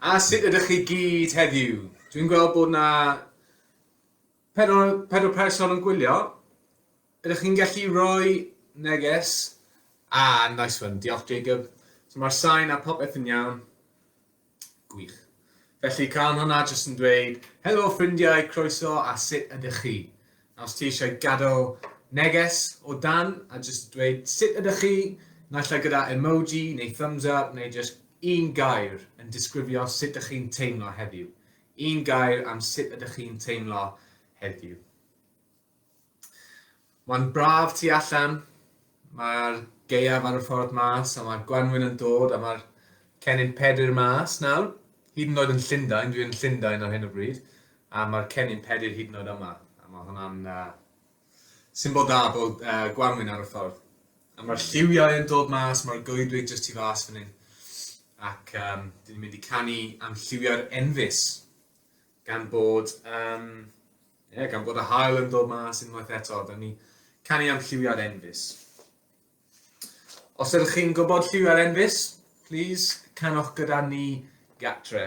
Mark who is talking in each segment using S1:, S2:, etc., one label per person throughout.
S1: A sut ydych chi gyd heddiw? Dwi'n gweld bod na pedwar, pedwar person yn gwylio. Ydych chi'n gallu rhoi neges? Ah, nice one. Diolch, Jacob. So mae'r sain a popeth yn iawn. Gwych. Felly, cael hwnna jyst yn dweud, helo ffrindiau, croeso a sut ydych chi? A os ti eisiau gadael neges o dan a jyst dweud sut ydych chi, naill ai gyda emoji neu thumbs up neu jyst un gair yn disgrifio sut ydych chi'n teimlo heddiw. Un gair am sut ydych chi'n teimlo heddiw. Mae'n braf tu allan, Mae'r gaeaf ar y ffordd mas a mae'r gwanwyn yn dod a mae'r cennin Pedr mas nawr. Hyd yn oed yn Llundain, dwi yn Llundain ar hyn o bryd, a mae'r cennin Pedr hyd yn oed yma. A mae hwnna'n uh, symbol da bod uh, gwanwyn ar y ffordd. A mae'r lliwiau yn dod mas, mae'r goedwig jyst tu fas fan hyn. Ac um, dyn ni'n mynd i canu am lliwiau'r enfys, gan bod um, Ie, gan bod y haul yn dod mas unwaith eto, da ni canu am lliwiau'r enfys. Os ydych chi'n gwybod lliwiau'r enfys, please, canwch gyda ni gatre.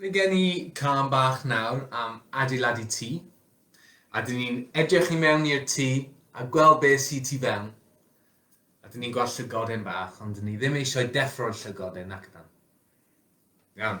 S1: Mae gen i cân bach nawr am adeiladu tŷ, a dyn ni'n edrych i mewn i'r tŷ a gweld beth sydd tu fewn, a dyn ni'n gweld llygoden bach, ond dyn ni ddim eisiau deffro'r llygoden, nac ydan? Iawn.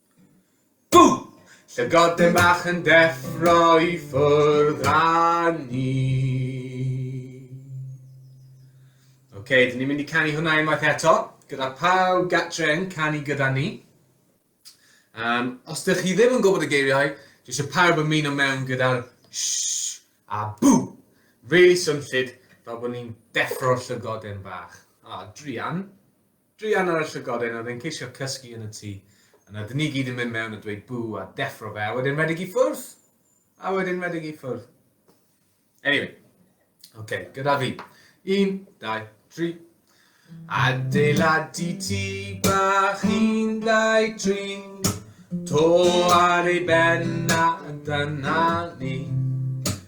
S1: Bŵ! Llygod dyn bach yn deffro i ffwrdd â ni. Ok, dyn ni'n mynd i canu hwnna unwaith eto, gyda pawb gatre yn canu gyda ni. Um, os ydych chi ddim yn gwybod y geiriau, dwi eisiau pawb ymuno mewn gyda'r shh a bŵ. Really swnllid fel bod ni'n deffro'r llygod yn bach. A, ah, druan. Druan ar y llygod hyn oedd e'n ceisio cysgu yn y tŷ. Yna dyn ni gyd yn mynd mewn a dweud bŵ a deffro fe a wedyn rhedeg i ffwrdd! A wedyn rhedeg i ffwrdd. Anyway, oce, okay, gyda fi. Un, dau, tri. Adeiladu ti bach un, dau, tri. To ar ei ben a dyna ni.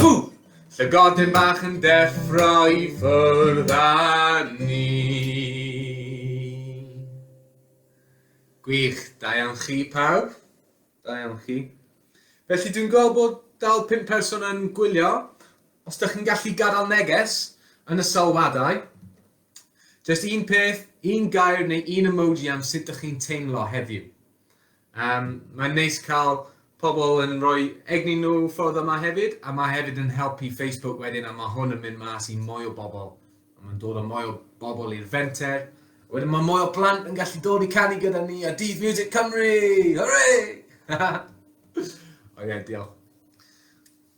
S1: Ww! Llygoden bach yn deffro i ffwrdd â ni. Gwych, da iawn chi pawb. Da iawn chi. Felly dwi'n gweld bod dal pum person yn gwylio. Os da chi'n gallu gadael neges yn y sylwadau, jyst un peth, un gair neu un emoji am sut da chi'n teimlo heddiw. Yym, mae'n neis cael pobl yn rhoi egni nhw ffordd yma hefyd, a mae hefyd yn helpu Facebook wedyn a mae hwn yn mynd mas i mwy o bobl. A mae'n dod â mwy o bobl i'r fenter. Wedyn mae mwy o plant yn gallu dod i canu gyda ni a Dydd Music Cymru! Hwrê! Ond ie, diolch.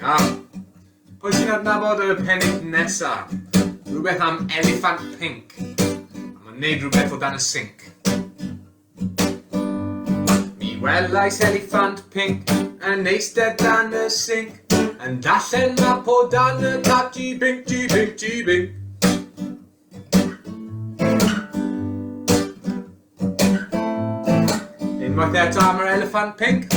S1: Iawn. Pwy sy'n adnabod y pennill nesa? Rhywbeth am eliffant pinc. A mae'n neud rhywbeth o dan y sinc. Mi welais eliffant pinc yn eistedd dan y sinc. Yn dallen map o dan y tap ti binc ti binc ti binc. Unwaith eto am yr eliffant pinc.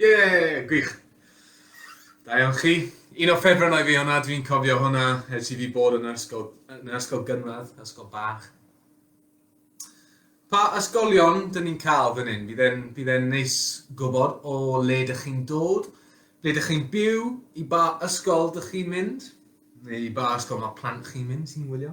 S1: Ie! Gwych! Da iawn chi. Un o ffefrynnau fi hwnna, dwi'n cofio hwnna ers i fi bod yn yr ysgol, yn yr ysgol gynradd, ysgol bach. Pa ysgolion dyn ni'n cael fan hyn? Bydd e'n bydd e'n neis gwybod o le dych chi'n dod, ble dych chi'n byw, i ba ysgol dych chi'n mynd, neu i ba ysgol mae plant chi'n mynd sy'n wylio.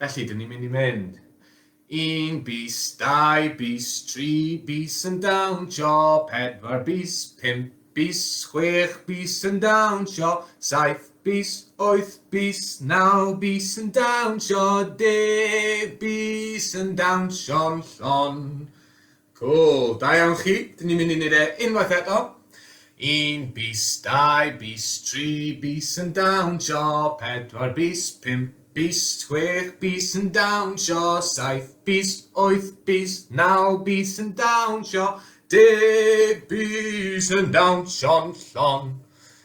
S1: Felly, dyn ni'n mynd i mynd. Un bis, dau bis, tri bis yn dawnsio, pedwar bis, pump bis, chwech bis yn dawnsio, saith bis, wyth bis, naw bis yn dawnsio, deg bis yn dawnsio'n llon. Cŵl, da iawn chi, dyn ni'n mynd i wneud e unwaith eto. Un bis, dau bis, tri bis yn dawnsio, pedwar bis, pump bis, chwech bis yn dawnsio, saith bis, wyth bis, naw bis yn dawnsio, deg bis yn dawnsio'n llon.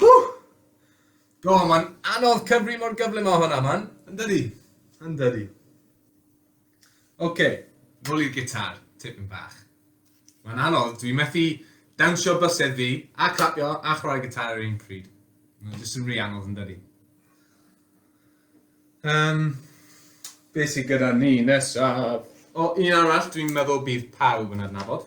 S1: Whoo! O, mae'n anodd cyfri mor gyflym â hwnna, man. Yndydi, yndydi. Ok, nôl i'r gitar, tipyn bach. Mae'n anodd, dwi methu dawnsio bysedd fi, a clapio, a chwarae gitar ar un pryd. Mae'n jyst yn rhi anodd, yndydi. Um, be sy'n gyda ni nesaf? O, un arall, dwi'n meddwl bydd pawb yn adnabod.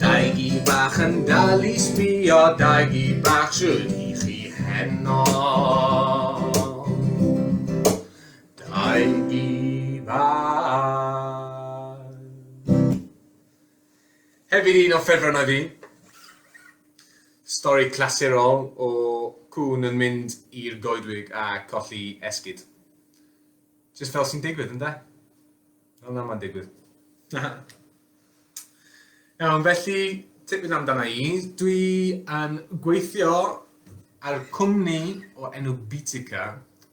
S1: Dau gi bach yn dal i sbio, dau gi bach shwd i chi heno. Dau gi bach. Hefyd un o ffefrynnau fi, stori clasurol o cŵn yn mynd i'r goedwig a colli esgid. Jyst fel sy'n digwydd, ynde? Fel na mae'n digwydd. Iawn, felly, tipyn amdana i. Dwi yn gweithio ar cwmni o enw Bitica,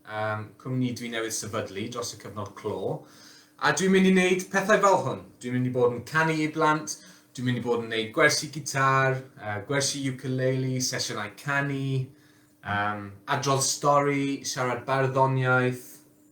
S1: um, cwmni dwi newydd sefydlu dros y cyfnod clo, a dwi'n mynd i wneud pethau fel hwn. Dwi'n mynd i bod yn canu i blant, dwi'n mynd i bod yn wneud gwersi gitar, uh, gwersi ukulele, sesiynau canu, um, adrodd stori, siarad barddoniaeth,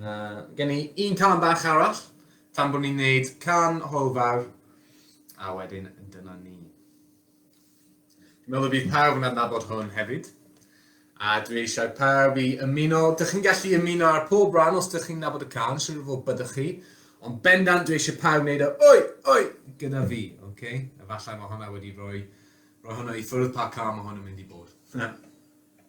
S1: Uh, gen i un can bach arall, tan bod ni'n neud can hwyl fawr, a wedyn dyna ni. Dwi'n meddwl bydd pawb yn adnabod hwn hefyd, a dwi eisiau pawb i ymuno, dych chi'n gallu ymuno ar pob rhan os dych chi'n nabod y can, sy'n rhywbeth o byddwch chi, ond bendant dwi eisiau pawb wneud o, oi, oi, gyda fi, oce? Okay? Efallai mae hwnna wedi rhoi, rhoi hwnna i ffwrdd pa can mae hwn yn mynd i bod.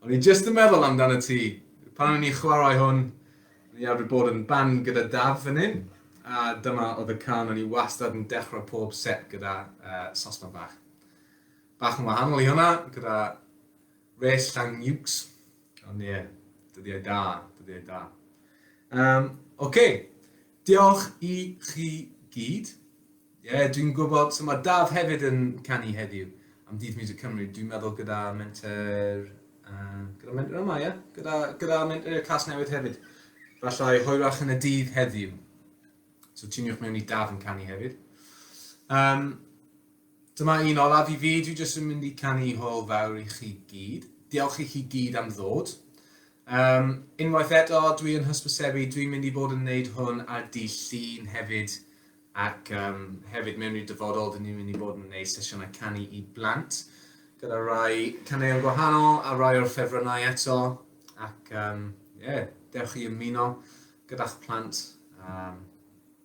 S1: O'n i jyst yn meddwl amdano ti. Pan o'n i'n chwarae hwn, o'n i arfer bod yn ban gyda Daf fan hyn, a dyma oedd y can o'n i wastad yn dechrau pob set gyda uh, sosban bach. Bach yn wahanol i hwnna, gyda res llang nukes. Ond ie, yeah, dyddiau da, dyddiau da. Um, Oce, okay. Diolch i chi gyd. Ie, dwi'n gwybod, so mae Daf hefyd yn canu heddiw am Dydd Music Cymru, dwi'n meddwl gyda menter, uh, gyda menter yma, ie? Gyda, gyda menter Casnewydd hefyd. Falle hwyrach yn y dydd heddiw. So tuniwch mewn i Daf yn canu hefyd. Um, Dyma un olaf i fi, dwi jyst yn mynd i canu hwyl fawr i chi gyd. Diolch i chi gyd am ddod. Um, unwaith eto, dwi yn hysbysebu, dwi'n mynd i fod yn neud hwn ar di llun hefyd, ac um, hefyd mewn i'r dyfodol, dyn ni'n mynd i fod yn neud sesiynau canu i blant, gyda rai caneuon gwahanol a rai o'r ffefrynnau eto, ac um, yeah, dewch i ymuno gyda'ch plant. Um,